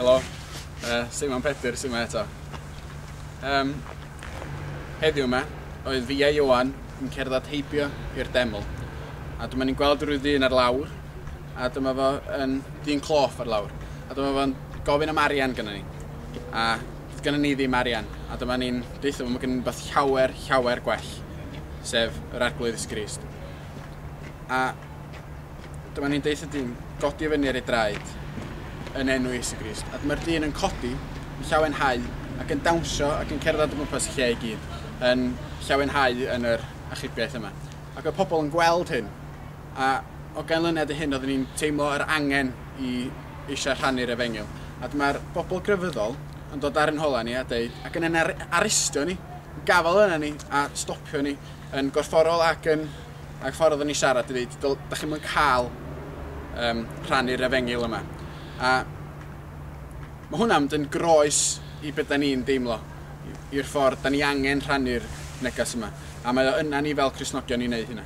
Helo, uh, Simon Pedyr sy'n yma eto. Um, heddiw yma, oedd fi a Iwan yn cerdded heibio i'r deml. A dyma ni'n gweld rhyw ddyn ar lawr, a dyma fo yn ddyn cloff ar lawr. A dyma fo'n gofyn am arian gyda ni. A Doedd gynnon ni ddim arian, a dyma ni'n deutho fo ma' gynnon ni wbath llawer, llawer gwell, sef yr Arglwydd Iesu Grist. A dyma ni'n deutho dyn godi fyny ar ei draed yn enw Iesu Grist. A dyma'r dyn yn codi, yn llawenhau, ac yn dawnsio ac yn cerdded o gwmpas y lle i gyd, yn llawenhau yn yr achubiaeth yma. Ac oedd pobl yn gweld hyn, A o ganlyniad i hyn oeddwn i'n teimlo yr angen i eisiau rhannu'r efengyl. A dyma'r bobl grefyddol yn dod ar ein holau ni a deud, ac yn ein arestio ni, yn gafael arna ni a stopio ni yn gorfforol ac yn ag ffordd oeddwn ni'n siarad i ddeud, dych chi'n mynd cael um, rhannu'r efengyl yma. A mae hwnna'n mynd yn groes i beth da ni'n deimlo, i'r ffordd da ni angen rhannu'r neges yma. A mae o yna ni fel Cresnogion i wneud hynna.